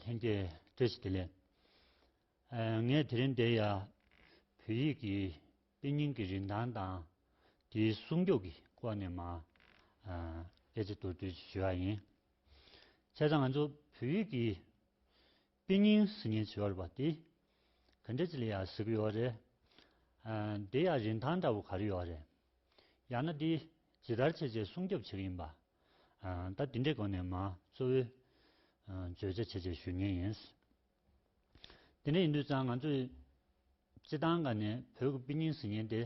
ལྷན་རྒྱས་བཀྲ་ཤིས་བདེ་ལེགས། ངས་དེ་རིང་འདིར་ཡང་བོད་ཡིག་གི་དཔེ་རྙིང་གི་རིན་ཐང་དང་དེའི་སྲུང་སྐྱོབ་ཀྱི་སྐོར་ནས་མ་ཨེ་ཙི་མདོར་བསྡུས་ཞུ་ཡ་ཡིན། བྱས་ཙང་ང་ཚོ་བོད་ཡིག་གི་དཔེ་རྙིང་གཟི་ཉིན་བྱི་བ་རུ་བ་ཏི། ག་འདྲེ་ཅི་ལི་ཡ་ཟི་གུ་ཡོ་རེ། འདི་ཡ་རིན་ཐང་འདྲ་བོ་ག་རེ་ཡོ་རེ། ཡང་ན་འདི་ཇི་ལྟར་བྱེད་ཅེས་སྲུང་སྐྱོབ་བྱེད་ཀྱི་ཡིན་པ། ད་འདི་འདྲའི་སྒོ་ནས་མ་གཙོ་བོའི་བརྗོད་བྱ་བྱེད་ཅེས་ཞུ་ཉེན་ཡིན། དེ་འདྲ་ཡིན་དུས་ཙང་ང་ཚོས་སྤྱི་སྟངས་འགའ་ནས་བོད་ཀྱི་དཔེ་རྙིང་གཟི་ཉིན་དེ་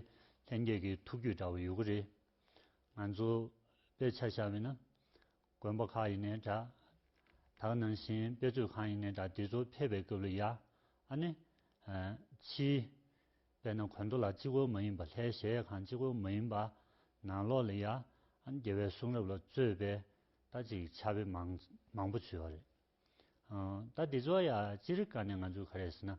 ལྷན་རྒྱས་ཀྱི་ཐུགས་རྒྱུད་འདྲ་བོ་ཡོད་ཀྱི་རེད། ང་ཚོ་དཔེ་ཆ་ཤར་བས་ན། དགོན་པ་ཁག་ཡིན་ནས་འདྲ། དག་ནང་བཞིན་དཔེ་མཛོད་ཁང་ཡིན་ནས་འདྲ་འདི་ཚོ་ཕེབས་པའི་སྐབས་ལ་ཡ། ཨ་ནི། ཕྱིའི། དཔེ་ན་གོན་དོ་ལ་སྤྱི་བཀོལ་མ་ཡིན་པ་ལྷའི་གཞལ་ཡས་ཁང་སྤྱི་བཀོལ་མ་ཡིན་པ། ནང་ལོགས་ལ་ཡ། ཨ་ནི་རྒྱལ་བའི་གསུང་རབ་ལ་རྩོད་པའི། རྟ་གཅིག་ཆ་བེ་མང། མང་པོ་བྱོས་བ་རེད། རྟ་འདི་ཚོ་ཡ་ཅི་རིགས་ཀ་ནས་ང་ཚོས་ག་རེ་ཟེར་ན།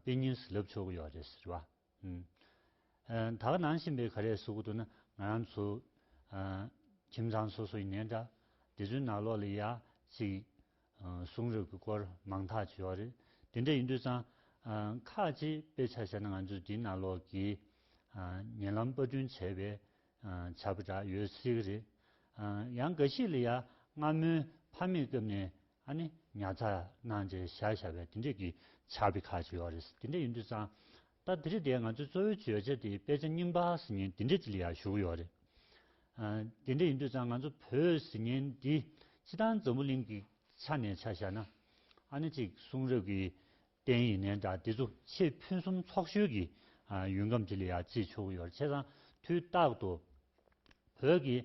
དཔེ་རྙིང་ཟིག་ལབ་ཆོག་གི་ཡོག་རེད་ཟེར་བ། ད་ག་ནང་བཞིན་པའི་ག་རེ་གཟུགས་འདུག་ན་ང་རང་ཚོ། ཁྱིམ་ཚང་སོ་སོ་ཡི་ནས་འདྲ། དེ་ཚོའི་ནང་ལོགས་ལ་ཡ་ཅིག་གསུང་རབ་ཀྱི་སྐོར་མང་དག་བྱོས་བ་རེད། དེ་འདྲ་ཡིན་དུས་ཙང། ཁག་ཅིག་དཔེ་ཆ་བཤད་ན་ང་ཚོས་དེའི་ནང་ལོགས་ཀྱི། ཉེ་ལམ་དཔར་སྐྲུན་བྱས་པའི་བྱ་བ་འདྲ་ཡོད་སྲིད་གི་རེད། ཡང་འགའ་ཞིག་ལ་ཡ་སྔ་མོའི་ཕ་མེས་སྐབས་ནས་ཨ་ནི་ཉར་ཚགས་གནང་རྗེས་བཞག་བཞག་པའི་དེ་འབྲེལ་གྱི་ཕྱག་དཔེ་ཁག་ཅིག་ཡོད་རེད་དེ་འདྲ་ཡིན་དུས་ཙང་ད་དེ་རིང་དེ་ང་ཚོའི་གཙོ་བོའི་བརྗོད་བྱ་དེ་དཔེ་ཆ་རྙིང་པ་ཟི་ཉན་དེ་འདྲ་ཅིག་ལ་ཡང་བཞུགས་ཡོད་རེད། དེ་འདྲ་ཡིན་དུས་ཙང་ང་ཚོ་བོས་ཟི་ཉན་འདི་སྤྱི་དང་འཛམ་བུ་གླིང་གི་ཆ་ནས་ཆ་བཞག་ན་ཨ་ནི་ཅིག་གསུང་རབ་ཀྱི་བརྟན་ཡིན་ནའི་འདྲ་འདི་ཚོ་ཆེས་ཕུན་སུམ་ཚོགས་ཤོས་ཀྱི་ཡུལ་ཁམས་དེ་ལ་ཡང་བརྩིས་ཆོག་གི་ཡོད་རེད་བྱས་ཙང་དུས་རྟག་ཏུ་བོད་ཀྱི་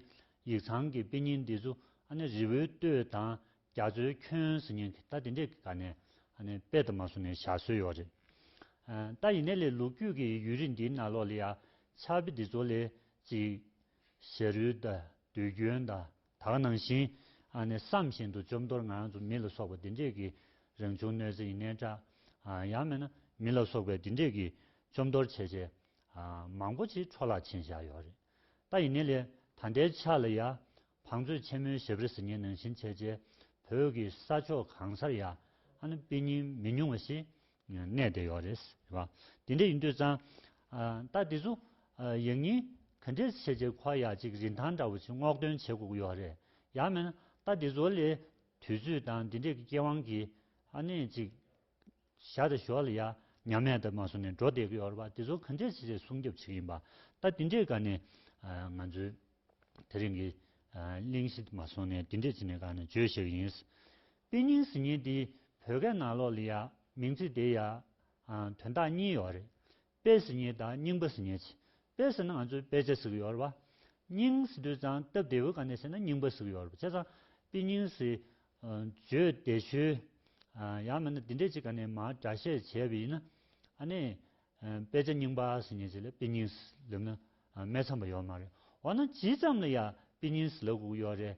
ཡིག་ཚང་གི་དཔེ་རྙིང་འདི་ཚོ་ཨ་ནེ་རི་བོའི་སྟོད་དང་རྒྱ་མཚོའི་ཁྱོན་ཟེར་ཉིན་ད་དེ་འདྲས་ག་ནས་དཔེ་དང་མ་བཟུང་ནས་བཞག་སྲོལ་ཡོད་རེད། ད་ཡིན་ནའི་ལས་ལུག་རྒྱུད་ཀྱི་ཡུལ་རིས་འདིའི་ནང་ལོགས་ལ་ཡང་ཆར་དཔེ་འདི་ཚོ་ལས་ཅིག་ཞེ་རུལ་དང་དུས་རྒྱུན་དང་དག་སྣང་བཞིན་ཨ་ནི་བསམ་བཞིན་དུ་བཅོམ་རྡོར་ང་ཚོ་མི་ལ་སོགས་པ་འདི་འདྲས་ཀྱི་རང་བྱུང་གནོད་འཚེ་ཡིན་ནའི་འདྲ། ཡང་མིན་ན་མི་ལ་སོགས་པའི་འདི་འདྲས་ཀྱི་བཅོམ་རྡོར་བྱས་རྗེས་མང་པོ་ཅིག་འཕྲོ་བརླག་ཕྱིན་བཞག་ཡོད་རེད། ད་ཡིན་ནའི་ལས་ད་ལྟའི་ཆ་ལ་ཡང་བང་མཛོད་ཆེན་མོའི་ཞབས་རི་ཟི་ངེ་ནང་བཞིན་བྱས་རྗེས་བོད་ཀྱི་ས་ཕྱོགས་གང་སར་ཡང་ཨ་ནི་དཔེ་རྙིང་མི་ཉུང་བ་ཞིག་གནས་དེ་ཡོད་རེད་ཟེར་བ་དེ་འདྲ་ཡིན་དུས་ཙང། ད་དེ་ཚོ་ཡག་ཉིན་ག་འདྲའི་བྱས་རྗེས་འཁོར་ཡག་ཅིག་རིན་ཐང་འདྲ་བོ་ཅིག་སྔོག་འདོན་བྱེད་དགོས་ཀྱི་ཡོད་རེད་ཡག་མེད་ན་ད་དེ་ཚོ་ལས་དུས་ཚོད་དང་དེ་འདྲས་ཀྱི་སྐྱེ་དབང་གི་ཨ་ནས་ཅིག་བཞག་དང་ཞོར་ལ་ཡག་ཉམས་མེད་དུ་མ་སོང་ནས་འགྲོ་བསྡད་ཀྱི་ཡོད་རེད་བ་དེ་ཚོ་ག་འདྲའི་བྱས་རྗེས་སྲུང་སྐྱོབ་བྱེད་ཀྱི་ཡིན་པ་ད་དེ་འདྲས་ག་ནས་ང་ཚོའི་དེ་རིང་གི་གླེང་གཞི་དུ་མ་སོང་ནས་དེ་འདྲས་ཅིག་ནས་ག་ནས་བརྗོད་ཤེས་ཀྱི་ཡིན། དཔེ་རྙིང་ཟིན་ཉིན་དེའི་བོད་སྐད་ནང་ལོག་ལི་ཡཱ་མིང་ཚིག་དེའི་ཡཱ། དོན་དག་གཉིས་ཡོད་རེད། དཔེ་ཟིན་ཉིན་དང་རྙིང་པ་ཟིན་ཉིན། དཔེ་ཟེར་ན་ང་ཚོས་དཔེ་ཆ་ཟིག་ཡོད་རེད། རྙིང་ཟེར་དུས་ཙང་སྟབས་བདེ་བོའི་སྒང་ནས་བཤད་ན་རྙིང་པ་ཟིག་ཡོད་རེད་བྱས་ཙང་དཔེ་རྙིང་ཟེར། བརྗོད་བདེ་ཆུ། ཡང་མིན་ན་འདི་འདྲས་ཅིག་ག་ནས་མར་སྒྲ་བཤད་བྱས་པ་ཡིན་ན། ཨ་ནི། དཔེ་ཆ་རྙིང་པ་ཟིན་ཉིན་ཞིག་ལ་དཔེ་རྙིང་ཟེར་ལབ་ན་མེད་ཚམ་པ་ཡོད་མ་རེད། འོ་ན་ཇི་ཙམ་ལ་ཡང་དཔེ་རྙིང་ཟེར་ལབ་དགོས་ཀྱི་ཡོད་རེད།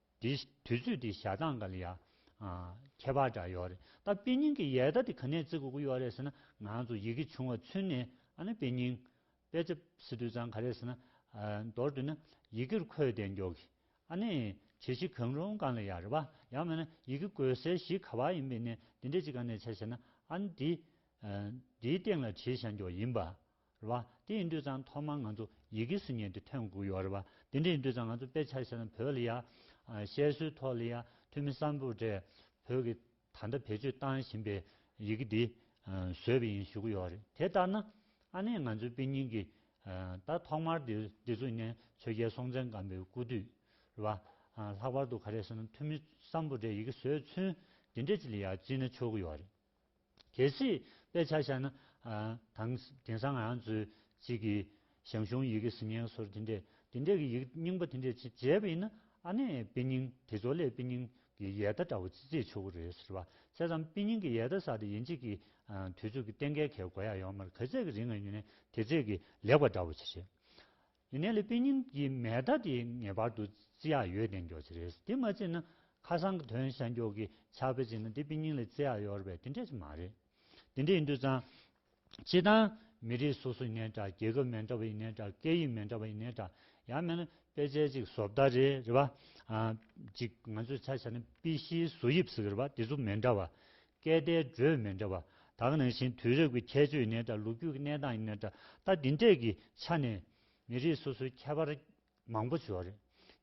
དེ་དུས་ཚོད་དེ་ཞག་གྲངས་ག་ལ་ཡ། ཁྱད་པར་འདྲ་ཡོད་རེད་ད་དཔེ་རྙིང་གི་ཡལ་ག་དེ་ག་ནས་བརྩི་དགོས་ཀྱི་ཡོད་རེད་ཟེར་ན་ང་ཚོ་ཡི་གེ་ཆུང་བ་ཚུན་ནས་ཨ་ནི་དཔེ་རྙིང། དཔེ་ཆ་སི་དུས་ཙང་ག་རེད་ཟེར་ན། མདོར་དུ་ན་ཡི་གེར་འཁོད་བདེ་མགྱོགས་གི་ཨ་ནི་བྱེད་གཞི་གང་རུང་གང་ལ་ཡ་རེད་པ་ཡང་མེད་ན་ཡི་གེ་བཀོལ་སའི་གཞི་ག་བ་ཡིན་པའི་ནས་དེ་འདྲས་ཅིག་ག་ནས་བྱ་ཟེར་ན་ཨ་ནི་དེ་དེའི་སྟེང་ལ་བྲིས་བཞག་མགྱོགས་ཡིན་པ་རེད་བ། དེ་ཡིན་དུས་ཙང་ཐོག་མར་ང་ཚོ་ཡི་གེ་ཟིན་ཉན་དེ་ཐོན་དགོས་ཡོད་རེད་བ། དེ་འདྲ་ཡིན་དུས་ཙང་ང་ཚོ་དཔེ་ཆ་ཤེས་ན་བོད་ལ་ཡ། བཤད་སྲོལ་ཐོག་ལ་ཡ་འཐུས་མི་གསར་འབོར་གྲས་བོད་ཀྱི་ད་ལྟ་བེད་སྤྱོད་བཏང་བཞིན་པའི་ཡི་གེ་འདི་བཟོས་པ་ཡིན་ཞུ་གི་ཡོད་རེད་དེ་ལྟར་ན། ཨ་ནེ་ང་ཚོའི་དཔེ་རྙིང་གི་ད་ཐོག་མར་འདི་འདི་ཚོ་ནས་ཆོས་རྒྱལ་སྲོང་བཙན་སྒམ་པོའི་སྐུ་དུས་རེད་བ། ལྷག་པར་དུ་ག་རེ་ཟེར་ན་འཐུས་མི་གསར་འབོར་གྲས་ཡི་གེ་བཟོས་ཚུན་འདི་འདྲ་ཅིག་ལ་ཡ་བརྩིས་ན་ཆོག་གི་ཡོད་རེད། གལ་སྲིད་དཔེ་ཆ་བཞག་ན། དང། དེང་སང་ང་ཚོས་ཅིག་གི་ཞང་ཞུང་ཡི་གེ་གཟིགས་སྙན་སོར་དེ་འདྲས་དེ་འདྲས་ཀྱི་ཡིག་རྙིང་པ་དེ་འདྲས་ཅིག་མཇལ་བ་ཡིན་ན་ཨ་ནེ་དཔེ་རྙིང་དེ་ཚོ་ལས་དཔེ་རྙིང་གི་ཡལ་གདའ་འདྲ་བོ་ཅིག་བརྩེགས་ཆོག་གི་རེད་ཟེར་བ་དཔྱད་བསམ་དཔེ་རྙིང་གི་ཡལ་གདའ་ཟ་དེ་ཡིན་ཅིག་གི་དུས་ཚོད་ཀྱི་སྟེང་གལ་གལ་གོ་ཡ་ཡོང་མར་ག་ཚད་ཀྱི་རིང་ང་ཡུན་ནས་དེ་བརྩེགས་ཀྱི་ལེགས་པ་འདྲ་བོ་ཅིག་རེད། ཡིན་ནའི་ལི་པི་ཉིན་གྱི་མེ་མདའ་དེ་ངེས་པར་དུ་བརྩི་ཡ་ཡོད་བདེན་འགྱོག་བྱེད་རེས་དེ་མ་བརྩི་ན་ཁ་སང་གི་དོན་གཞན་འགྱོག་གི་ཆགས་པའི་རྗེས་ན་དེ་པི་ཉིན་ལས་བརྩི་ཡ་ཡོར་བས་དེ་འདྲ་ཞིག་མ་རེད། དེ་འདྲ་ཡིན་དུས་ཙང། བྱེད་སྟངས་མི་རིགས་སོ་སོ་ཡིན་ནའི་འདྲ་རྒྱལ་ཁབ་མེ་འདྲ་བ་ཡིན་ནའི་འདྲ་སྐད་ཡིག་མེ་འདྲ་བ་ཡིན་ནའི་འདྲ་ཡང་མེད་ན་དཔེ་ཆའི་གཅིག་བཟོ་བདའ་རེ་རེད་བ། གཅིག་ང་ཚོས་ཆ་བྱས་ན་པི་ཤིའི་བཟོ་དབྱིབས་ཟེར་བ་རེད་བ་དེ་ཚོ་མེ་འདྲ་བ། སྐད་བརྡའི་འགྲོས་མི་འདྲ་བ་དག་ནང་བཞིན་དུས་རབས་ཀྱི་ཁྱད་ཆོས་ནི་དང་ལོ་རྒྱུས་ཀྱི་གནས་སྟངས་ནི་འདྲ་ལྟ་འདི་འདྲས་ཀྱི་ཆ་ནས་མི་རིགས་སོ་སོའི་ཁྱད་པར་མང་པོ་ཞོག་རེད།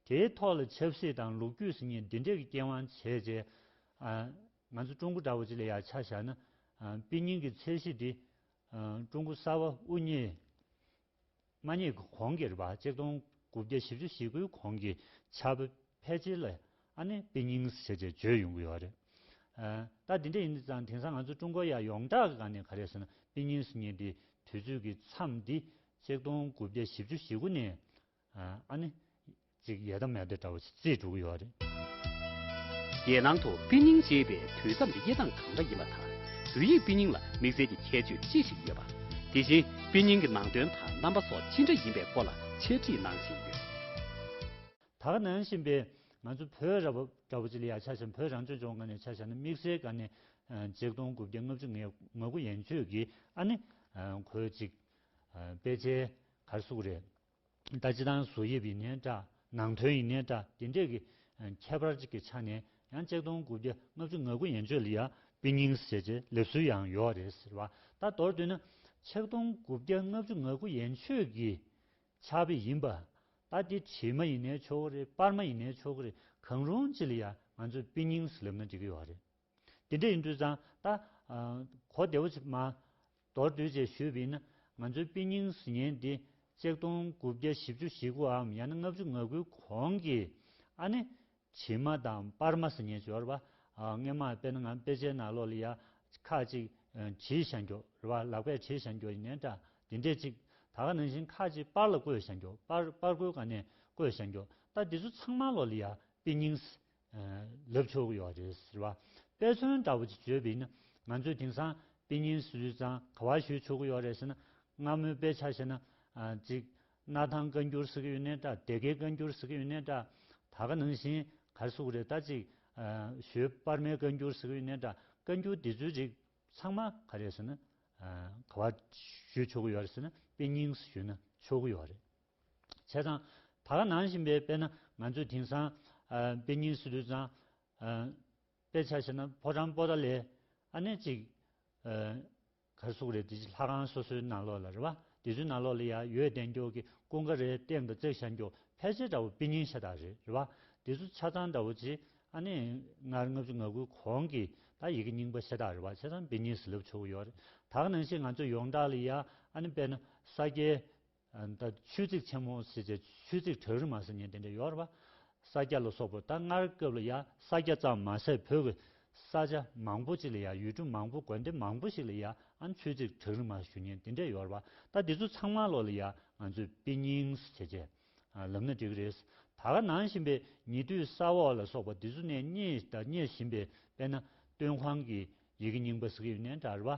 དེའི་ཐོག་ལ་ཆབ་སྲིད་དང་ལོ་རྒྱུས་སྲིད་གཉིས་འདི་འདྲས་ཀྱི་རྐྱེན་དབང་བྱས་རྗེས། ང་ཚོ་ཀྲུང་གོ་འདྲ་བོ་ཅིག་ལ་ཡང་ཆ་བཞག་ན། དཔེ་རྙིང་གི་ཚད་གཞི་འདི། ཀྲུང་གོ་གསར་བ་དབུ་བརྙེས། མ་ཉེས་ཀྱི་གོང་གི་རེ་བ་གཅིག་སྟོང་དགུ་བརྒྱ་བཞི་བཅུ་ཞེ་དགུའི་གོང་གི་ཆབ་བེད་སྤྱད་ལ་ཨ་ནེ་པི་ཉིང་སི་བྱས་ཅེས་བརྗོད་ཡོང་གི་ཡོད་རེད། ད་དེ་འདྲ་ཡིན་དུས་ཙང་དེང་སང་ང་ཚོ་ཀྲུང་གོ་ཡག་ཡོངས་གྲགས་གི་ག་ནས་ག་རེད་ཟེར་ན་པི་ཉིང་སི་ཉེ་འདིའི་དུས་ཚོད་ཀྱི་མཚམས་འདི་གཅིག་སྟོང་དགུ་བརྒྱ་བཞི་བཅུ་ཞེ་དགུ་ནས་ཨ་ནི། ཅིག་ཡས་དམ་ཡ་དེ་འདྲ་བ་ཆུ་ཚོད་དྲུག་ཡོད་རེད། རྒྱལ་ནང་དུ་དཔེ་རྙིང་ཅེས་པའི་དུས་མཚམས་ཀྱི་དབྱེ་སྟངས་གང་འདྲ་ཡིན་པ་དང་བོད་ཡིག་དཔེ་རྙིང་ལ་དམིགས་བསལ་གྱི་ཁྱད་ཆོས་ཅི་ཞིག་ཡོད་པ། དེ་བཞིན་དཔེ་རྙིང་གི་ནང་དོན་དང་རྣམ་པ་སོགས་ཅི་འདྲ་ཡིན་པའི་སྐོར་ལ་འཆད་ཁྲིད་གནང་བཞིན་ཡོད། དག་གནང་བཞིན་པའི་ང་ཚོ་བོད་ར་བ་འདྲ་བོ་ཅི་ལ་ཡ་ཆ་བཞག་བོད་རང་སྐྱོང་ལྗོངས་སྒང་ནས་ཆ་བཞག་ན་དམིགས་བསལ་སྒང་ནས་ཅེག་སྟོང་དགུ་བརྒྱ་ལྔ་བཅུ་ངེ་ང་དགུ་ཡན་ཆོད་ཀྱིས་ཨ་ནི། གོས་ཅིག། དཔེ་ཆའི་གར་སུག་རེད། ལྟ་སྤྱི་དང་གཟུགས་དབྱིབས་ཡིན་ནའི་འདྲ་ནང་དོན་ཡིན་ནའི་འདྲ་དེ་འདྲས་ཀྱི། ཁྱད་པར་གཅིག་གི་ཆ་ནས་ཡང་གཅིག་སྟོང་དགུ་བརྒྱ་ལྔ་བཅུ་ང་དགུ་ཡན་ཆོད་ལི་ཡ་པི་ཉིང་སེ་ཅེ་ལེབ་སུའུ་ཡང་ཡོའོ་རེད་ཟེར་བ་ལྟར་མདོར་བསྡུས་ན། ཆིག་སྟོང་དགུ་བརྒྱ་ལྔ་བཅུ་ང་དགུ་ཡན་ཆོད་ཀྱི། ཆགས་པའི་ཡིན་པ། ལྟ་དེ་བྲིས་མ་ཡིན་ནའི་ཆོག་གི་རེད་དཔར་མ་ཡིན་ནའི་ཆོག་གི་རེད་གང་རུང་ཅི་ལི་ཡ་ང་ཚོས་པི་ཉིང་སེ་ལེབ་ན་འགྲིག་གི་ཡོའོ་རེད། དེ་འདྲ་ཡིན་དུས་ཙང་ད། གོ་བདེ་བོ་མ། མདོར་བསྡུས་བཅས་ཞུས་པས་ན། ང་ཚོའི་དཔེ་རྙིང་ཟིན་ཉེན་འདི། ཅེག་སྟོང་དགུ་བརྒྱ་བཞི་བཅུ་ཞེ་དགུའམ་ཡང་ན་ལྔ་བཅུ་ང་དགུའི་གོང་གི། ཨ་ནེ། བྱི་མ་དང་སྤར་མ་ཟིན་ཉེན་སྦྱོར་བ། སྔས་མ་དཔེ་ན་ང་དཔེ་ཆའི་ནང་ལོག་ལི་ཡ། ཁ་ཅིག། བྱིའི་ཞང་སྐྱོགས། རེ་བ་ལག་པས་བྱིའི་ཞང་སྐྱོགས་ཡིན་ནའི་འདྲ། དེ་འདྲས་ཅིག། ད་ག་ནང་བཞིན་ཁ་ཅིག་སྤར་ལ་བརྐོས་ཞང་སྐྱོགས་སྤར་སྤར་བརྐོས་ག་ནས་བརྐོས་ཞང་སྐྱོགས། ད་འདི་ཚོ་ཚང་མ་ལོག་ལི་ཡ། དཔེ་རྙིང། ལབ་ཆོག་ཡོད་རེད་ཟེར་བ་དཔེ་མཚོན་འདྲ་བོ་ཅིག་བརྗོད་པས་ན་ང་ཚོས་དེང་སང་དཔེ་རྙིང་སུས་ཙང་ག་བ་ཞུས་ཆོག་གི་ཡོད་རེད་ཟེར་ན་སྔ་མོའི་དཔེ་ཆ་ཤེས་ན་ཅིག་སྣར་ཐང་བཀའ་འགྱུར་ཟེར་གི་ཡོད་ནའི་འདྲ་སྡེ་དགེ་བཀའ་འགྱུར་ཟེར་གི་ཡོད་ནའི་འདྲ་ད་ག་ནང་བཞིན་གར་སོགས་རེད་ད་ཅིག་ཞོལ་དཔར་མའི་བཀའ་འགྱུར་ཟེར་གི་ཡོད་ནའི་འདྲ་བཀའ་འགྱུར་འདི་ཚོའི་རིགས་ཚང་མ་ག་རེད་ཟེར་ན་ག་བ་ཞུས་ཆོག་གི་ཡོད་རེད་ཟེར་ན་དཔེ་རྙིང་སུ་ཞུས་ན་ཆོག་གི་ཡོད་རེད། བྱས་ཙང། ད་ག་ནང་བཞིན་པའི་དཔེ་ན་ང་ཚོས་དེང་སང། དཔེ་རྙིང་སུ་བསྡུས་ཙང། དཔེ་ཆ་ཤེས་ན་ཕོ་བྲང་སྤོ་ད་ལས། ཨ་ནེ་ཅིག། གར་གཟུགས་རེད་དེ་ཅིག་ལྷ་ཁང་སོ་སོའི་ནང་ལོགས་ལ་རེད་བ། དེ་ཚོའི་ནང་ལོགས་ལ་ཡང་ཡོད་བསྟན་སྐྱོག་གི་ཀུན་དགའ་རེད་སྟེང་དུ་བརྩེགས་ཤར་འགྱོག་ཕལ་ཆེར་འདྲ་བོ་དཔེ་རྙིང་ཤ་ཏག་རེད་རེད་བ། དེ་ཚོ་ཆ་ཚང་འདྲ་བོ་ཅི། ཨ་ནེ། སྔར་ལྔ་བཅུ་ང་དགུའི་གོང་གི་ད་ཡི་གེ་རྙིང་པ་ཤ་ཏག་རེད་བ་བྱས་ཙང་དཔེ་རྙིང་ཟིལ་ལབ་ཆོག་གི་ཡོག་རེད། ད་ག་ནང་བཞིན་ང་ཚོས་ཡོངས་གྲགས་ལ་ཡང་ཨ་ནེ་དཔེ་ན་ས་སྐྱའི་ད་ཆོས་ཚིགས་ཆེན་མོ་ཟེར་བྱས་ཆོས་ཚིགས་བྲག་རི་མ་ཟེར་ཉིན་དེ་འདྲ་ཡོད་ར། ས་སྐྱ་ལ་སོགས་པོ་ད་སྔར་སྐབས་ལ་ཡ་ས་སྐྱ་ཙམ་མ་ཟད་བོད་ཀྱི་ས་ཆ་མང་པོ་ཅིག་ལ་ཡ་ཡུལ་གྲུ་མང་པོ་དགོན་སྡེ་མང་པོ་ཞིག་ལ་ཡ་ཨང་ཆོས་ཚིགས་བྲག་རི་མ་ཞུ་ཉིན་དེ་འདྲ་ཡོད་ར་ད་འདི་ཚོ་ཚང་མ་ལོག་ལ་ཡ་ང་ཚོས་དཔེ་རྙིངས་བྱས་བྱས་ལབ་ན་འགྲིག་རེད། ད་ག་ནང་བཞིན་པའི་ཉེ་དུས་ས་འོག་ལ་སོགས་པ་འདི་ཚོ་ནས་རྙེད་ད་རྙེད་བཞིན་པའི་དཔེ་ན་སྟོན་ཁང་གི་ཡི་གེ་རྙིང་པ་སི་ཀི་ཡུ་ནན་དྲ་རི་བ་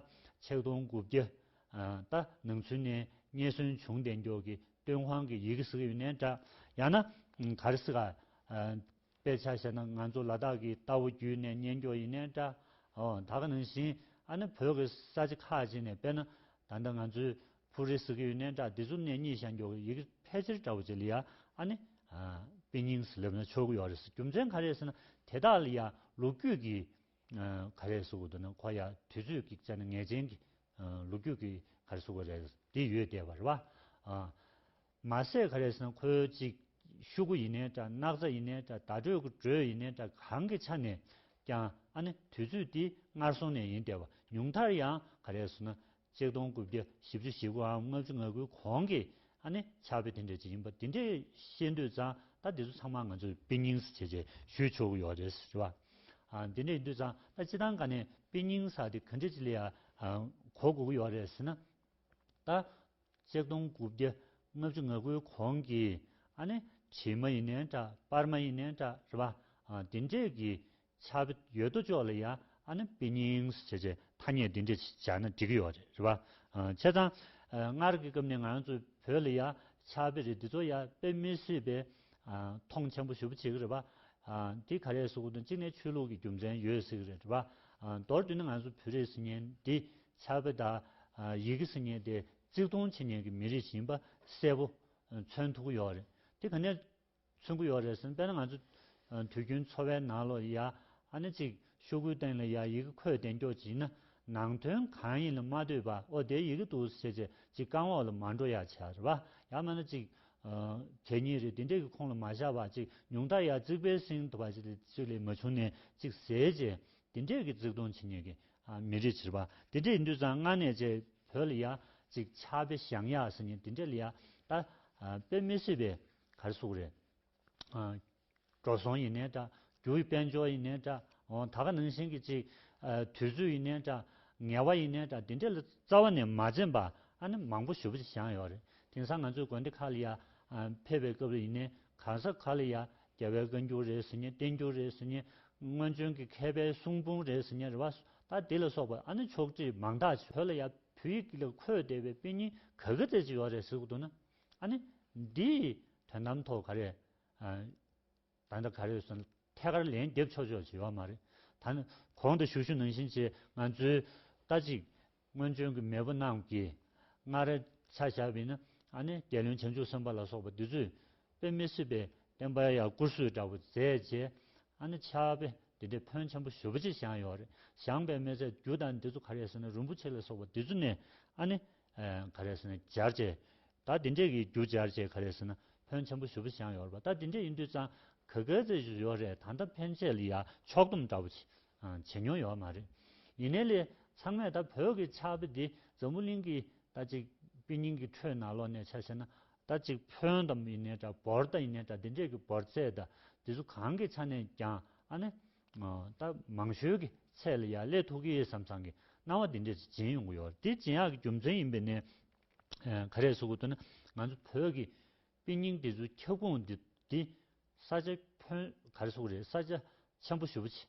ཆིག་སྟོང་དགུ་བརྒྱ་ད་ནང་ཚུན་ནས་རྙེད་སོན་བྱུང་བདེན་མགྱོགས་ཀྱི་ཏུན་ཧོང་གི་ཡི་གེ་ཟིག་ཡོད་ནའི་འདྲ། ཡང་ན། ག་རེ་ཟིག་ཨ། དཔེ་ཆ་བཤད་ན་ང་ཚོ་ལ་དྭགས་ཀྱི་རྟ་བོ་བརྒྱུད་ནས་རྙེད་མགྱོགས་ཡིན་ནའི་འདྲ། འོ་ད་ག་ནང་བཞིན་ཨ་ནི་བོད་ཀྱི་ས་ཆ་ཁག་ཅིག་ནས་དཔེར་ན། ད་ལྟ་ང་ཚོའི་ཕུ་རེ་ཟིག་ཡོད་ནའི་འདྲ་འདི་ཚོ་ནས་རྙེད་བཞག་མགྱོགས་ཀྱི་ཡི་གེ་ཕལ་ཆེར་འདྲ་བོ་ཅིག་ལ་ཡ་ཨ་ནི། དཔེ་རྙིང་སླེབས་ན་ཆོག་གི་ཡོད་རེད་ཟེར་རྒྱུ་མཚན་ག་རེ་ཟེར་ན་དེ་དག་ལ་ཡང་ལོ་རྒྱུས་ཀྱི་ག་རེ་གཟུགས་འདི་ནི་ཁོ་ཡ་དུས་ཚོད་ཀྱི་རྩལ་ནི་ངེས་ཅན་གྱི་ལུག་ཁྱུ་གི་ག་རེ་གཟུགས་རེད་འདི་ཡོད་བསྡད་པ་རེད་བ། མ་ཟད་ག་རེ་ཟེར་ན་ཁོའི་ཅིག་ཤུ་གུ་ཡིན་ནའི་འདྲ་སྣག་ཚ་ཡིན་ནའི་འདྲ་བརྡ་སྤྲོད་ཀྱི་འགྲོས་ཡིན་ནའི་འདྲ་གང་གི་ཆ་ནས་ཀྱང་ཨ་ནི་དུས་ཚོད་འདི་སྔར་སོང་ནས་ཡིན་བསྡད་བ་ཉུང་མཐར་ཡང་ག་རེ་ཟེར་ན་ཚིག་སྟོང་དགུ་བརྒྱ་བཞི་བཅུ་བཞི་དགུའམ་ལྔ་བཅུ་ང་དགུའི་གོང་གི་ཨ་ནི་ཕྱག་དཔེ་དེ་འདྲས་ཅིག་ཡིན་པ་འདི་འདྲས་ཤེས་འདོད་ཙང་ད་འདི་ཚོ་ཚང་མ་ང་ཚོས་དཔེ་རྙིང་ཟེར་ཆེད་ཞུས་ཆོག་གི་ཡོད་རེད་ཟེར་བ། འདི་འདྲས་ཡིན་འདོད་ཙང་ད་སྤྱི་སྟངས་ག་ནས་དཔེ་རྙིང་ཟེར་དེ་ག་འདྲས་ཅིག་ལས་གོ་དགོས་ཀྱི་ཡོད་རེད་ཟེར་ན། ད་ཚིག་སྟོང་དགུ་བརྒྱ་ལྔ་བཅུ་ང་དགུའི་གོང་གི་ཨ་ནི་བྱེས་མ་ཡིན་ནའི་འདྲ་དཔར་མ་ཡིན་ནའི་འདྲ་རེད་བ། འདི་འདྲས་ཀྱི་ཆ། ཡོད་དོ་ཅོག་ལ་ཡང་ཨ་ནི་པི་ཉིང་སི་བྱེད་བྱེད་ཐ་སྙད་འདི་འདྲ་སྦྱར་ན་འགྲིག་གི་ཡོད་རེད་བ། བྱས་ཙང། སྔར་གྱི་སྐབས་ནས་ང་ཚོ་བོད་ལ་ཡང་ཆ་བེ་རི་འདི་ཚོ་ཡང་དཔེ་མི་སྲིད་པའི་མཐོང་ཆེན་པོ་ཞུ་བ་བྱེད་ཀྱི་རེད་བ། འདི་ག་རེ་སུ་དང་གཅིག་ནས་ཆོས་ལུགས་ཀྱི་རྒྱུ་མཚན་ཡོད་སྲིད་ཀྱི་རེད་བ། མདོར་བསྡུས་ན་ང་ཚོ་བོད་རིགས་སི་ཉན་འདི་ཆ་བེ་དང་ཡི་གེ་སི་ཉན་དེ་གཙིགས་མཐོང་བྱེད་ཉན་གྱི་མི་རིགས་ཤིག་ཡིན་པ་གསལ་པོ་མཚོན་ཐུབ་ཀྱི་ཡོད་རེད། འདི་ག་ནས་མཚོན་གྱི་ཡོད་རེད་ཟེར་དཔེར་ན་ང་ཚོ་དུས་རྒྱུན་འཚོ་བའི་ནང་ལོ་ཡ་ཨ་ནི་གཅིག་ཤོག་བུའི་སྟེང་ལ་ཡ་ཡི་གེ་འཁོད་དེ་འགྱོག་བགྱིས་ན་ནང་དོན་གང་ཡིན་ལ་མ་ལྟོས་པ་ཨོ་དེའི་ཡི་གེ་འདུག་ཟེར་བྱས་རྗེས་གཅིག་རྐང་འོག་ལ་མ་འགྲོ་ཡ་བྱས་རེད་པ་ཡ་སྨྲས་ན་གཅིག་གད་སྙིགས་རེད་དེ་འདྲས་ཀྱི་ཁོང་ལ་མ་བཞག་པ་གཅིག་ཉུང་མཐར་ཡ་རྩིག་པའི་གསེང་དུ་བ་ཅིག་ལས་མ་བྱུང་ནས་གཅིག་ཟེར་བྱས་དེ་འདྲས་ཀྱི་རྩིག་སྟོང་བྱེད་ཉན་གི་མི་རེད་བྱས་པ་དེ་འདྲས་ཡིན་དུས་ཙང་སྔ་ནས་བྱས་བོད་ལ་ཡ་གཅིག་ཆགས་པས་ཞང་ཡ་ཟེར་ཉན་དེ་འདྲས་ལ་ཡ་ད་དཔེ་མི་སྲིད་པས། གར་གཟུགས་རེད། འགྲོ་སོང་ཡིན་ནའི་འདྲ། རྒྱུ་ཡི་དཔལ་འབྱོར་ཡིན་ནའི་འདྲ། ད་ག་ནང་བཞིན་གྱི་ཅིག། དུས་ཚོད་ཡིན་ནའི་འདྲ། ངལ་བ་ཡིན་ནའི་འདྲ་འདི་འདྲ་ལ་རྩ་བ་ནས་མ་འཛེམས་པ་ཨ་ནི་མང་པོ་ཞུ་བ་ཞིག་བཞག་ཡོད་རེད། དེང་སང་ང་ཚོའི་དགོན་སྡེ་ཁག་ལ་ཡ། ཕེབས་པའི་སྐབས་ལ་ཡིན་ནའི་གང་ཟག་ག་ལ་ཡ། རྒྱལ་བའི་བཀའ་འགྱུར་རེད་ཟེར་ནའི་བསྟན་འགྱུར་རེད་ཟེར་ནའི། སྔོན་བྱོན་གྱི་མཁས་པའི་གསུང་འབུམ་རེད་ཟེར་ནའི་རེ་བ་སོ་ད་དེ་ལ་སོགས་པ་ཨ་ནི་ཕྱོགས་བསྒྲིགས་མང་དག་བྱོས་ལ་ཡ། བོད་ཡིག་ལ་འཁོད་བསྡད་པའི་དཔེ་རྙིང་ག་གེ་ཙེ་ཅིག་ཡོད་རེད་ཟེར་དགོས་འདུག་ན། ཨ་ནི། འདི། དོན་དམ་ཐོག་ག་རེ། ད་ལྟ་ག་རེ་སོང། ཐད་ཀར་ལན་འདེབས་ཆོག་ཆོག་བྱེད་ཡོག་མ་རེད། ད་ནི། གོང་དུ་ཞུ་ཞུ་ནང་བཞིན་བྱེད། ང་ཚོའི། ལྟ་ཅིག། སྔོན་བྱོན་གྱི་མེས་པོ་རྣམས་ཀྱིས། སྔ་རབས། ཆ་བཞག་པས་ན། ཨ་ནི། རྒྱལ་བློན་བྱང་ཆུབ་སེམས་དཔའ་ལ་སོགས་པ་འདི་ཚོས། དཔེ་མི་སྲིད་པའི། བསྟན་པ་ཡང་བཀུར་བཟོས་འདྲ་བོ་མཛད་རྗེས། ཨ་ནི། ཕྱག་དཔེ། འདི་འདྲའི་ཕོན་ཆེན་པོ་ཞོ་པོ་ཆེ་བཞག་ཡོག་རེད། བཞག་པའི་མེ་བཙའ་རྒྱུ་དང་འདི་ཚོ་ག་རེ་ཟེར་ན་རིན་པོ་ཆེ་ལ་སོགས་པ་འདི་ཚོ་ནས། ཨ་ནི། ག་རེ་ཟེར་ན་སྦྱར་བྱས། ད་དེ་འདྲས་ཀྱི་རྒྱུ་སྦྱར་བྱས་ག་རེ་ཟེར་ན་ཕོན་ཆེན་པོ་ཞུ་བུ་ཞང་ཡོར་བ་ད་དེ་འདྲས་ཡིན་དུས་ཙང་ག་ག་ཚེ་ཞུ་ཡོར་རེད་ད་ད་ཕན་ཆད་ལི་ཡ་ཕྱོགས་སྡོམ་འདྲ་བོ་བྱེད་མྱོང་ཡོར་མ་རེད། ཡིན་ནའི་ལི་ཚང་མས་ད་བོད་ཀྱི་ཆགས་པི་འདི་འཛམ་བུ་གླིང་གི་ད་ཅིག་པི་སྙིང་གི་ཁྲོད་ན་ལོག་ནས་ཆགས་བྱས་ན་ད་ཅིག་ཕོན་ད་ཡིན་ནའི་འདྲ་བོར་ད་ཡིན་ནའི་འདྲ་དེ་འདྲས་ཀྱི་བོར་ཚད་ད་དེ་ཚོ་གང་གི་ཆ་ནས་ཀྱང་ཨ་ནི་ད་མང་ཤོས་ཀྱི་ཚད་ལ་ཡ་ཀླད་ཐུག་གི་ཟམ་ཚང་གི་སྣང་བ་འདི་འདྲས་ཚོ་སྦྱིན་ཡོང་གི་ཡོད་དེ་སྦྱིན་ཡག་གི་རྒྱུ་མཚན་ཡིན་པས་ནི། ག་རེ་སུ་གོ་ཐུབ་ན་ང་ཚོ་བོད་ཀྱི་དཔེ་རྙིང་འདི་ཚོའི་ཁྱབ་ཁོངས་འདི་འདི་ས་ཆ་ཁྱོན་ག་རེ་སུ་རེད་ས་ཆ་ཆེན་པོ་ཞུ་བ་ཆེ།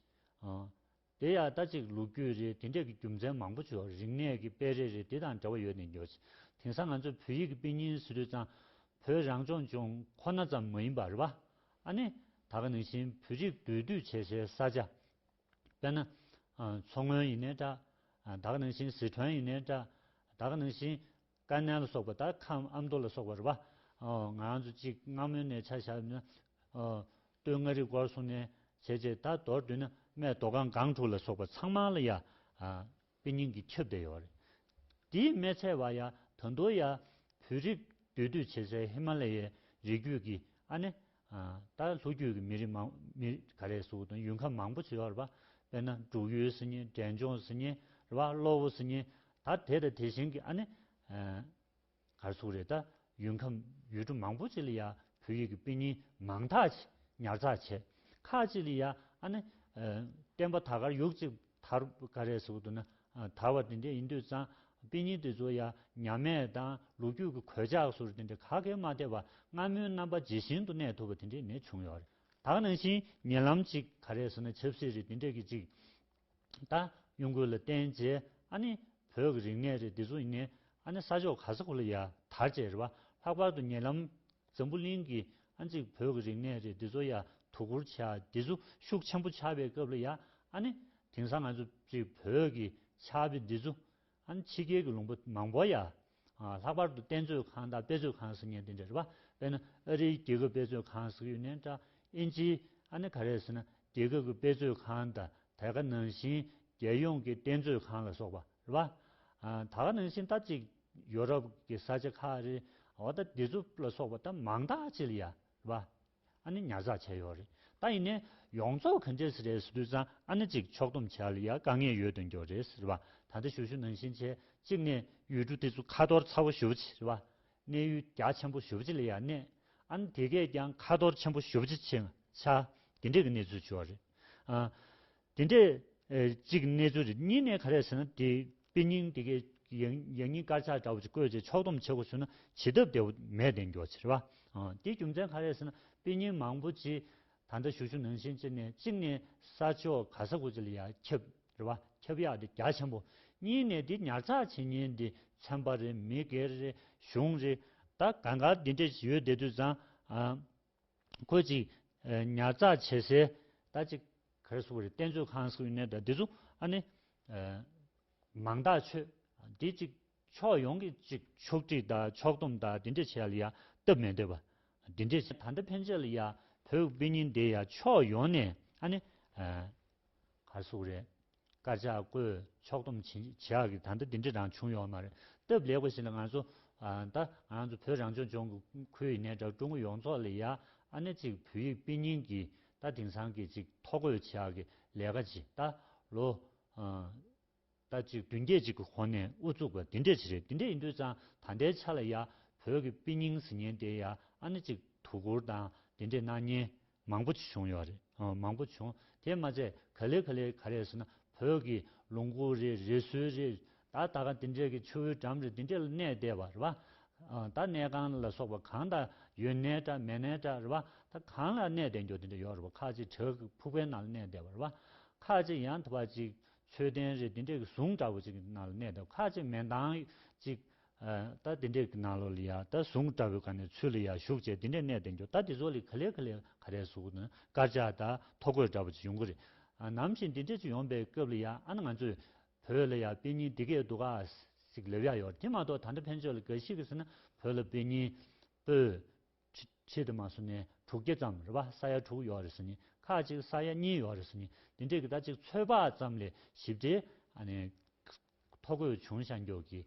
དེ་ཡག་ལྟ་ཅིག་ལུག་རྒྱུད་རེད་དེ་འདྲས་ཀྱི་རྒྱུ་མཚན་མང་པོ་བྱུང་རིག་གནས་ཀྱི་དཔེ་རེ་རེ་དེ་དང་འབྲེལ་བ་ཡོད་ནས་འགྱོ་ཆེ་དེང་སང་ང་ཚོ་བོད་ཡིག་གི་དཔེ་རྙིང་སི་རུས་ཙང་བོད་རང་སྐྱོང་ལྗོངས་ཁོ་ན་ཙམ་མ་ཡིན་པར་ར་བ་ཨ་ནི་ད་ག་ནང་བཞིན་བོད་རིགས་འདུས་སྡོད་བྱེད་སའི་ས་ཆ། དཔེར་ན། མཚོ་སྔོན་ཡིན་ནའི་འདྲ། ད་ག་ནང་བཞིན་ཟི་ཁྲོན་ཡིན་ནའི་འདྲ། ད་ག་ནང་བཞིན་ཀ་ནན་ལ་སོགས་པ་དག་ཁམས་ཨ་མདོ་ལ་སོགས་པ་རེད་པ། ང་ཚོ་གཅིག་སྔ་མོ་ནས་ཆ་བཞག་ན། སྟོད་མངའ་རིས་སྐོར་སོང་ནས་བྱས་རྗེས་ད་མདོར་བསྡུས་ན་སྨད་མདོ་སྒང་སྒང་དྲུག་ལ་སོགས་པ་ཚང་མ་ལ་ཡ། པའི་སྙིང་གི་ཁྱབ་བརྡལ་ཡོད་རེད། དེའི་སྨད་ཚལ་བ་ཡ་ད་མདོ་ཡ་བོད་རིགས་འདུས་སྡོད་བྱེད་སའི་ཧི་མ་ལ་ཡའི་རི་རྒྱུད་ཀྱི་ཨ་ནེ། ད་ལྷོ་རྒྱུད་ཀྱི་མི་རིགས་མང། མི་ག་རེ་སུ་དང་ཡུལ་ཁམས་མང་པོ་བྱེད་ཡོད་རེད་པ། དཔེར་ན་འབྲུག་ཡུལ་ཟེར་ཉིན་འབྲས་ལྗོངས་ཟེར་ཉིན་རེད་པ་གློ་བོ་ཟེར་ཉིན་ད་དེ་དང་དེ་བཞིན་གྱི་ཨ་ནེ། གར་སོང་རེད་ད། ཡུལ་ཁམས་ཡུལ་གྲུ་མང་པོ་ཅིག་ལ་ཡ་བོད་ཡིག་གི་དཔེ་རྙིང་མང་དག་ཅིག་ཉར་ཚགས་བྱས། ཁག་ཅིག་ལ་ཡ་ཨ་ནི། བསྟན་པ་དར་ཁར་ཡུག་ཅིག་དར་ག་རེ་ཟུག་འདུག་ན་དར་བ་དེ་འདྲས་ཡིན་དུས་ཙང་དཔེ་རྙིང་དེ་ཚོ་ཡ་ཉམས་དམས་དང་ལུག་རྒྱུད་ཀྱི་གོད་ཆགས་སུ་རེ་དེ་འདྲས་ག་གེ་མ་ཐེབས་པ་སྔ་མོའི་རྣམ་པ་ཇི་བཞིན་དུ་གནས་ཐུབ་པ་དེ་འདྲས་མེད་བྱུང་ཡོད་རེད། དག་ནང་བཞིན་ཉེ་ལམ་ཅིག་ག་རེ་ཟུག་ན་ཆབ་སྲིད་རེ་དེ་འདྲས་ཀྱི་ཅིག་ད་གཡུང་དགོས་ལ་བརྟེན་རྗེས་ཨ་ནི་བོད་ཀྱི་རིག་གནས་རེད་འདི་ཚོ་ངས་ཨ་ནི་ས་ཕྱོགས་ག་ས་གོ་ལ་ཡ་དར་བཅས་རེད་བ་ལྷག་པར་དུ་ཉེ་ལམ་འཛམ་བུ་གླིང་གི་ཨ་ཅིག་བོད་ཀྱི་རིག་གནས་རེད་འདི་ཚོ་ཡ་དོ་གུར་བྱས་ཨ་འདི་ཚོ་ཤུགས་ཆེན་པོ་ཆགས་པའི་སྐབས་ལ་ཡ་ཨ་ནི་དེང་སང་ང་ཚོ་ཅིག་བོད་ཀྱི་ཆགས་པའི་འདི་ཚོ་ཨང། ཕྱི་རྒྱལ་གྱི་ལུང་པ་མང་པོ་ཡང་ལྷག་པར་དུ་རྟེན་མཛོད་ཁང་དང་དཔེ་མཛོད་ཁང་སུ་ཉན་ཏེ་འདྲི་བ་དཔེར་ན་ཨ་རིའི་རྒྱལ་ཁབ་དཔེ་མཛོད་ཁང་སུ་ཡོད་ནས་ཀྲ་ཨིན་ཅི་ཨ་ནི་ག་རེད་ཟེར་ན་རྒྱལ་ཁབ་ཀྱི་དཔེ་མཛོད་ཁང་དང་དལ་ཁ་ནང་བཞིན་རྒྱལ་ཡོངས་ཀྱི་རྟེན་མཛོད་ཁང་ལ་སོགས་པ་རེད་བ། ད་ག་ནང་བཞིན་ད་ཅིག་ཡོ་རོབ་ཀྱི་ས་ཆ་ཁག་རེད་བ་ད་དེ་ཚོ་ལ་སོགས་པ་ད་མང་དག་ཅིག་ཡ་རེད་བ། ཨ་ནི་ཉར་ཚགས་བྱས་ཡོད་རེད་ད་ཡིན་ནའི་ཡོངས་རྫོགས་ག་འདྲས་རེད་ཟེར་དུས་ཙང་ཨ་ནི་ཅིག་ཕྱོགས་སྡོམ་བྱས་ལ་ཡ་དཀའ་ངལ་ཡོད་དོན་གྱོ་རེད་ཟེར་བ་ད་ལྟ་ཞུ་ཞུ་ནང་བཞིན་བྱས་གཅིག་ནས་ཡུལ་གྲུ་དེ་ཚོ་ཁ་ཐོར་ཚ་བོ་ཞུ་བ་ཆེ་རེད་བ་གནས་ཡུལ་རྒྱ་ཆེན་པོ་ཞུ་བ་ཆེ་ལ་ཡ་གནས་ཨ་ནི་དེ་གས་ཀྱང་ཁ་ཐོར་ཆེན་པོ་ཞུ་བ་ཆེ་ཆག་དེ་འདྲས་ཀྱི་གནས་ཚུལ་བྱུ་བ་རེད་ཨ། དེ་འདྲས་གཅིག་གནས་ཚུལ་རེད་གཉིས་ནས་ག་རེ་ཟེར་ན་དེ་དཔེ་རྙིང་དེ་གའི་ཡང་སྙིང་དཀར་ཆག་འདྲ་བོ་ཅིག་བཀོད་ཅེས་ཕྱོགས་སྡོམ་བྱེད་དགོས་ཟེར་ན་བྱེད་ཐབས་དེ་བོ་མེད་དེ་མགྱོགས་ཚེ་རེད་བ། དེའི་རྒྱུ་མཚན་ག་རེ་ཟེར་ན་དཔེ་རྙིང་མང་བོ་ཅི་ད་ལྟ་བཞུགས་ཞུ་ནང་བཞིན་གཅིག་ནས་གཅིག་ནས་ས་ཕྱོགས་ག་ས་གོ་ཅི་ལ་ཡ་ཁྱབ་རེད་བ་ཁྱབ་ཡག་དེ་རྒྱ་ཆེན་པོ། གཉིས་ནས་དེ་ཉར་ཚགས་བྱེད་ཉེན་དེ་ཚན་པ་རེད་མི་སྒེར་རེད་གཞུང་རེད་ད་ག་འགའ་དེ་འདྲས་ཡོད་བསྡད་དུས་བཟང། ཁོས་ཅིག། ཉར་ཚགས་བྱེད་སའི་ད་ཅིག། གར་སོགས་རིག་རྟེན་མཛོད་ཁང་སོགས་ཡོད་ནས་ད་དེ་ཚོ་ཨ་ནི། མང་དག་ཆོས། དེ་ཅིག། ཕྱོགས་ཡོངས་ཀྱི་ཅིག་ཕྱོགས་བསྒྲིགས་དང་ཕྱོགས་སྡོམ་དང་དེ་འདྲས་བྱས་ཡ་ལ་ཡ་སྟབས་མི་བདེ་བ། དེ་འདྲས། ད་ལྟ་ཕན་ཆད་ལ་ཡ་བོད་དབུས་གཉིས་འདི་ཡ་ཕྱོགས་ཡོངས་ནས་ཨ་ནི། གར་སོགས་རེད། དཀར་ཆག་བརྐོས་ཕྱོགས་སྡོམ་བྱེད་ཡག་གི་ད་ལྟ་དེ་འདྲའི་རང་བྱུང་ཡོང་མ་རེད་སྟབས་ལེགས་པ་ཞིག་ལ་ང་ཚོ་ད་ང་ཚོ་བོད་རང་སྐྱོང་ལྗོངས་ཀྱི་ཁུལ་ཡིན་ནའི་འདྲ་ཀྲུང་གོ་ཡོངས་རྫོགས་ལ་ཡ་ཨ་ནེ་གཅིག་བོད་ཡིག་དཔེ་རྙིང་གི་ད་དེང་སང་གི་ཅིག་ཐོ་བཀོད་བྱེད་ཡག་གི་ལས་ཀ་ཅིག་ད་ལོ་ད་ཅིག་བདུན་བརྒྱད་ཅིག་གི་གོང་ནས་དབུ་བཙུགས་པ་དེ་འདྲས་ཅིག་རེད་དེ་འདྲས་ཡིན་དུས་ཙང་ད་ལྟའི་ཆ་ལ་ཡ་བོད་ཀྱི་དཔེ་རྙིང་ཟེར་ཉན་དེ་ཡ་ཨ་ནེ་གཅིག་དུ་གུར་དང་དེ་འདྲས་སྣང་བརྙན་མང་པོ་བྱུང་ཡོད་རེད་མང་པོ་བྱུང་དེ་མ་ཚད་ག་ལེ་ག་ལེ་ག་རེ་ཟེར་ན་བོད་ཀྱི་ལུང་ཁུག་རེད་རི་སུལ་རེད་ད་ད་ག་དེ་འདྲས་ཀྱི་ཆུ་བོའི་འགྲམ་རེད་དེ་འདྲས་ལ་གནས་བསྡད་པ་རེད་བ། ད་གནས་ཁང་ལ་སོགས་པ་གང་དག་ཡོད་གནས་འདྲ་མེད་གནས་འདྲ་རེད་བ་ད་གང་ལ་གནས་བསྡད་འགྱོ་དེ་འདྲས་ཡོད་རེད་བ་ཁ་ཅིག་བྲག་གི་ཕུག་པའི་ནང་ལ་གནས་བསྡད་པ་རེད་བ། ཁ་ཅིག་ཡང་དག་པ་ཅིག་མཆོད་རྟེན་རེད་དེ་འདྲས་ཀྱི་གཟུངས་འདྲ་བོ་ཅིག་གི་ནང་ལ་གནས་བསྡད་པ་ཁ་ཅིག་མེ་མདངས་ཅིག་རྟ་དེ་འདྲས་ཀྱི་ནང་ལོགས་ལ་ཡང་རྟ་ཟུང་འདྲ་བོའི་ག་ནས་ཚུར་ལ་ཡང་ཞུགས་བྱས་དེ་འདྲས་གནས་དེར་འགྱུར་རྟ་དེ་ཚོ་ལས་ག་ལེར་ག་ལེར་ག་རེ་ཟུག་ན་དཀར་ཆག་དང་ཐོ་གོས་འདྲ་བོ་ཅིག་ཡོང་གི་རེད། ནམ་ཞིག་འདི་འདྲས་ཅིག་ཡོང་པའི་སྐབས་ལ་ཡང་ཨ་ན་ང་ཚོས་བོད་ལ་ཡང་དཔེ་རྙིང་འདི་སྐད་འདུག་གཱ་ཞིག་ལབ་ཡག་ཡོད་རེད་དེ་མ་གཏོགས་ད་ལྟ་ཕན་ཆོད་ལ་འགའ་ཞིག་གིས་ཟེར་ན་བོད་ལ་དཔེ་རྙིང་པོད། ཕྱེད་དུ་མ་སོང་ནས་དྲུག་བརྒྱ་ཙམ་རེད་པ་ས་ཡ་དྲུག་ཡོད་རེད་ཟེར་ནས་ཁ་ཅིག་ས་ཡ་གཉིས་ཡོད་རེད་ཟེར་ནས་འདི་འདྲས་ཀྱི་རྟ་ཅིག་ཚོད་དཔག་ཙམ་ལས་ཞིབ་ཕྲའི་ཐོ་འགོད་བྱུང་ཤར་མགྱོགས་ཀྱི།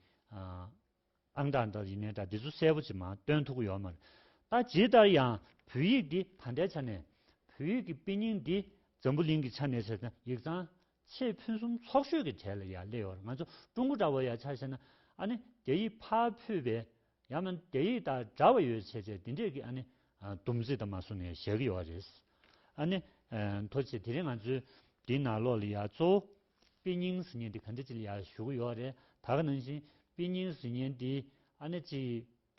ཨང་གྲངས་དང་ཡིག་གནས་དག་འདི་ཚོ་གསལ་པོ་ཅིག་མ་སྟོན་ཐུག་གི་ཡོད་མ་རེད། ད་ཇི་ལྟར་ཡང་བོད་ཡིག་འདི་ད་ལྟའི་ཆ་ནས་བོད་ཡིག་གི་དཔེ་རྙིང་འདི་འཛམ་བུ་གླིང་གི་ཆ་ནས་ཟེར་ན་ཡིག་ཚང་ཆེས་ཕུན་སུམ་ཚོགས་ཤོས་ཀྱི་གྲས་ལ་ཡང་སླེབས་ཡོད་རེད་ང་ཚོ་ཀྲུང་གོ་འདྲ་བོ་ཡང་ཆ་ཤེས་ན་ཨ་ནི་དེ་ཡིག་ཕ་ཕུད་པའི་ཡང་ན་དེ་ཡིག་དང་འདྲ་བ་ཡོད་ཆེ་ཆེ་དེ་འདྲས་ཀྱི་ཨ་ནི་སྡོམ་རྩིས་དང་མ་གསུངས་ནས་བཞག་གི་ཡོད་རེད། ཨ་ནི་མཐོ་ཆེ་དེ་རིང་ང་ཚོའི་འདི་ནང་ལོགས་ལ་ཡང་གཙོ་བོ་པི་ཉིང་ཟི་ཉན་དེ་ག་འདྲ་ཅི་ལ་ཡག་ཞུ་གི་ཡོག་རེད་ད་ག་ནང་བཞིན་པི་ཉིང་ཟི་ཉན་དེ་ཨ་ནེ་ཅི་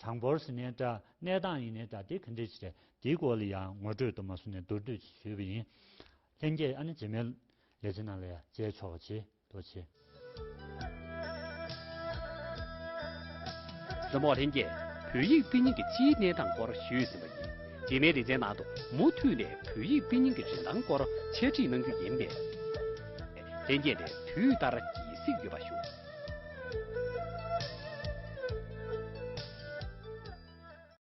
གྲངས་འབོར་ཟི་ནའི་དྲ་གནས་སྟངས་ཡིན་ནའི་དྲ་དེ་ག་འདྲ་ཅི་རེད་དེའི་སྐོར་ལ་ཡང་ངོ་སྤྲོད་དུ་མ་སུ་ནས་མདོར་བསྡུས་ཅིག་ཞུས་པ་ཡིན་ལྷན་རྒྱས་ཨ་ནེ་ཅི་མའི་ལས་བྱེད་ནང་ལ་ཡང་མཇལ་ཆོག་པ་ཆེ་ཐུགས་ཆེ། རྩོམ་འོག་ལྷན་རྒྱས་བོད་ཡིག་པི་ཉིང་གི་སྤྱིའི་གནས་སྟངས་སྐོར་ཞུས་ཟིན་པ་ཡིན། རྗེས་མའི་ལེ་ཚན་ནང་དུ་མུ་མཐུད་ནས་བོད་ཡིག་དཔེ་རྙིང་གི་རིན་ཐང་སྐོར་འཆད་ཁྲིད་གནང་རྒྱུ་ཡིན་པས། ལྷན་རྒྱས་ནས་དུས་ལྟར་ཡིད་གཟིགས་ཡོད་པ་ཞུ།